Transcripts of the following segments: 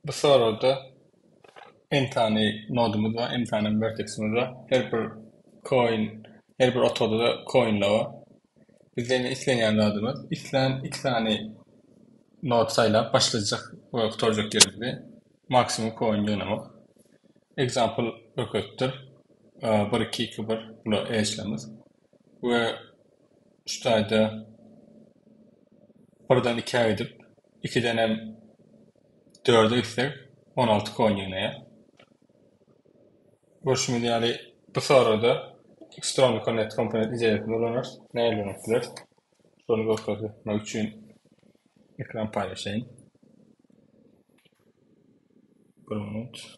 Bu soragda n sany nodumyz bar, n sany werteksimiz bar. Her bir koin, her bir otagda-da koinler bar. Biz indi islenýän zadymyz, islän iki sany nod saýlap başlajak we gutarjak ýerimizi maksimum koin ýygnamak. Example, böketdir, bir, iki, iki, bir, bula eýeçilerimiz we üç taýda birden ikä gidip, ikidenem dörde gitsek, on alty kon ýygnaýar. Görşümiz ýaly, bu soragda Xtrony Connect komponent ideýasyny ulanarys. Nähili ulanmak isleris? Şony görkezmek üçin ekran paýlaşaýyn. Bir minut.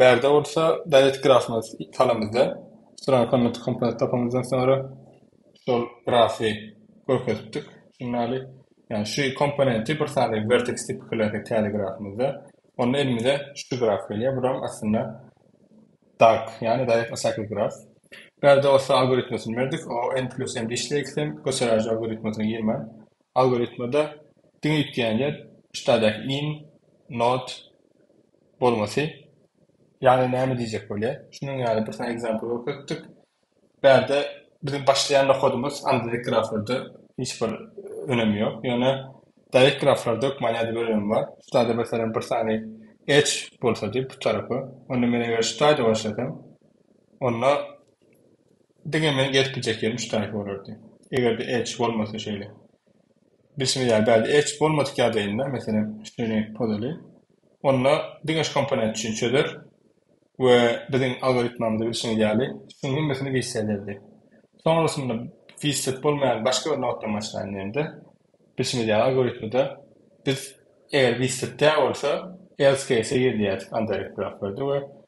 Bärde bolsa Dalet grafyna salamyzda Strong Command komponent tapamyzdan soňra şol grafy görkezipdik. Şunuň ýaly, ýagny şu komponenti bir sany vertex tipi klasy täze grafymyzda, onda elimize şu graf gelýär. Buram aslynda dark, ýagny dalet aşaky graf. Bärde bolsa algoritmasyny berdik. O n plus m-de işleýär ikisem, göçeräji algoritmasyna girmän Algoritmada diňe üýtgeýän ýer üstadäki in, not, bolmasy. Ýagny näme diýjek bolýar? Şunuň ýaly bir sany example görkezipdik. Bärde biziň başlaýan nohadymyz andadek graflarda hiç bir önemi ýok. Ýöne direct graflarda hökman nädip bir önemi bar. Şutada meselem bir sany edge bolsady bu tarapy. Onda men eger şutayda başlasam, onda Diňe men gelip biljek ýerim şu taýpa bolardy. Eger-de Edge bolmasa şeýle. Bilşimiz ýaly bärde Edge bolmadyk ýagdaýynda, meselem, şuny pozaly, onda diňe şu komponent üçin çözer we biziň algoritmamyzda bilşiňiz ýaly şuň hemmesini wise ederdi. Soňrasynda wiset bolmaýan başga bir noddan başlaýyn diýende, bilşimiz ýaly algoritmada biz eger wiset däl bolsa else case-e gir diýýärdik undirect bloklarda we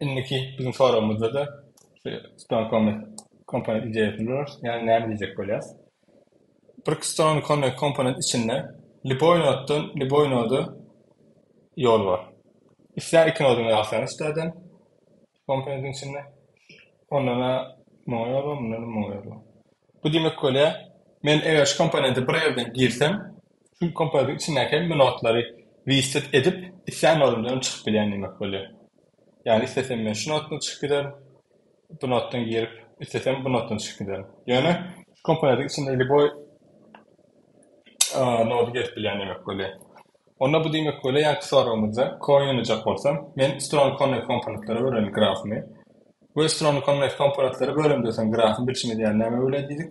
Indiki biziň soragymyzda-da şu Stone Comet komponent ideýasyny durarys. Ýagny näme diýjek bolýarys? Bir Stone Comet komponent içinde lýuboý notdan lýuboý noda ýol bar. Islän iki nodyňy alsaň üstäden komponentiň içinde ondan-a muňa ýol bar, mundan-a muňa ýol bar. Bu diýmek bolýar, men eger şu komponente bir ýerden girsem, Çünki kompýuteriň içindäki hemme notary reset edip, islän orundan hem çykyp bilýän diýmek bolýar. Ýagny islesem men şu notdan çykyp giderin, bu notdan girip, islesem bu notdan çykyp giderin. Ýöne şu kompýuteriň içinde liboý nody gezip bilýän diýmek bolýar. Onda bu diýmek bolýar, ýaňky soragymyzda coin oýnajak bolsam, men strony connect komponentlere bölerin grafymy we strony connect komponentlere bölende sen grafyny bilşim edýär näme böler diýdik.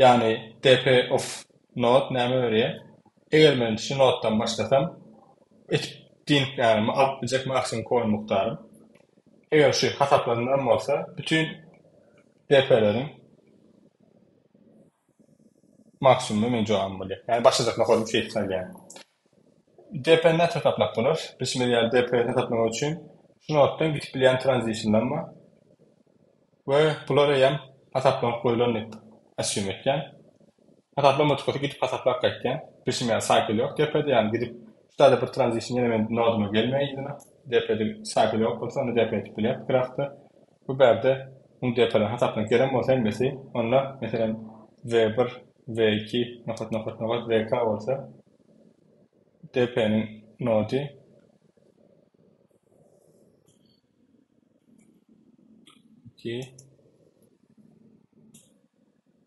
Ýagny DP of note näme berýär? Eger men şu nodedan başlasam, et diýnik ýagny alyp biljek maksimum koin mukdarym. Eger şu hasaplandyran bolsa, bütin DP-leriň maksimumy meniň jogabym bolýar. Ýagny başlajak nodedyň sesi saýylýar. DP-ni näçe taplap bolar? Biz şeýle ýaly DP-ni hesaplamak üçin şu notdan gidip bilýän tranzisiýadan we we bular eýýäm hasaplanyp goýlan diýip asýum etýän. Hasaplamadykasy gidip hasaplap gaýtýan. Biz şeýle ýaly saýkl ýok DP-de ýagny gidip şu taýda bir tranzisiýa ýene meniň noduma gelmeýär ýüzüme. DP-de saýkl ýok bolsa onda DP edip bilýär pikir asty. Bu bärde muň detalýan hasaplamak gerek bolsa hemmesi, onda, meselem, we bir, we iki, nokat, nokat, nokat, we k bolsa, DP-niň nody, iki,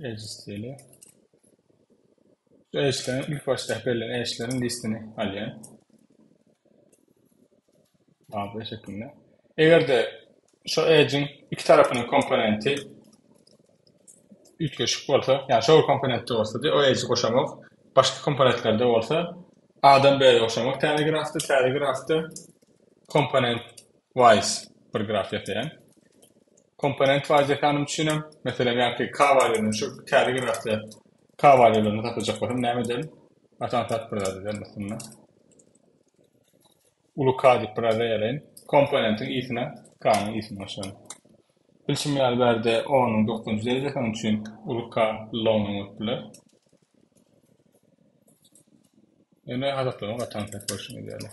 Edge stili. Şu edge'lerin ilk başda belli edge'lerin listini alýan. Tablo şeklinde. Eger de şu edge'in iki tarafynyň komponenti üýtgeşik bolsa, ýa şu komponentde bolsa, o edge'i goşamak, başga komponentlerde bolsa, adam bäri goşamak täze grafda, täze grafda komponent wise bir graf ýasaýan. Komponent Waýze hanym üçin hem, meselem, ýaňky kawalýerden şu täze gimnastika kawalýerlerini satyjak bolsam, näme ederin? Atam sat bir zady bermesin-dä. Uly K diýip bir zat eýeleýin. Komponentiň i-sine K-nyň i-sini goşaryn. Bilşim ýaly, bärde O-nyň dokuzynjy derejesi, onuň üçin uly K L-nyň bolup biler. Ýöne hasaplama gaty aňsat bolşuny ideýärler.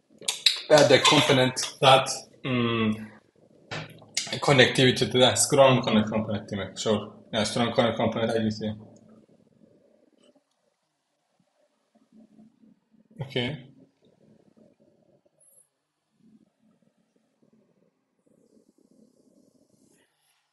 Bädäki komponent zat konnektiwiteti-de, strong connect komponent diýmek, şol. Ýa strong connect komponent aýdylyşy. Okey.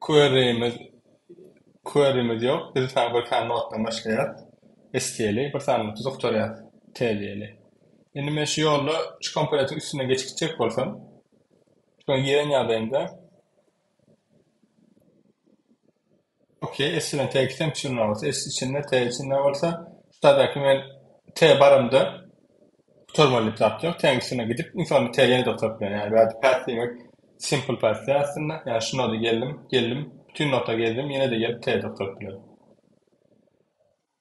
Querymiz Querymiz ýok. Biz saňa bir sany notdan başlaýas. Estýeli bir sany noty zuktarýas. Täzeli. Indi men şu ýolda şu komponentiň üstünden geçip gitjek bolsam, şuny ýeren ýagdaýymda, Okey esine te gitsem içinde bolsa es içinde te içinde bolsa sadaki men te barymda gutarmaly diýip zat ýok teň üstüne gidip iň soňunda te ýene-de gutarp bilen ýaly bärde päs diýmek simple päs diýer aslynda ýa şu nota geldim geldim bütin nota gezdim ýene-de gelip te-de gutarp bilen.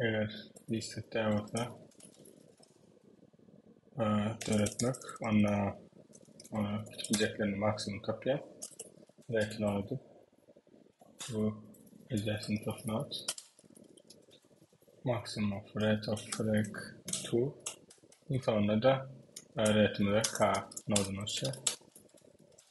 Eger diskret däl bolsa döretmek onda ona kiçijeklerini maksimum tapýar. Belki ne oldu? Bu izlesini toplayat. Maksimum of rate of break 2. Sonunda da öğretimize K nodunu olsa.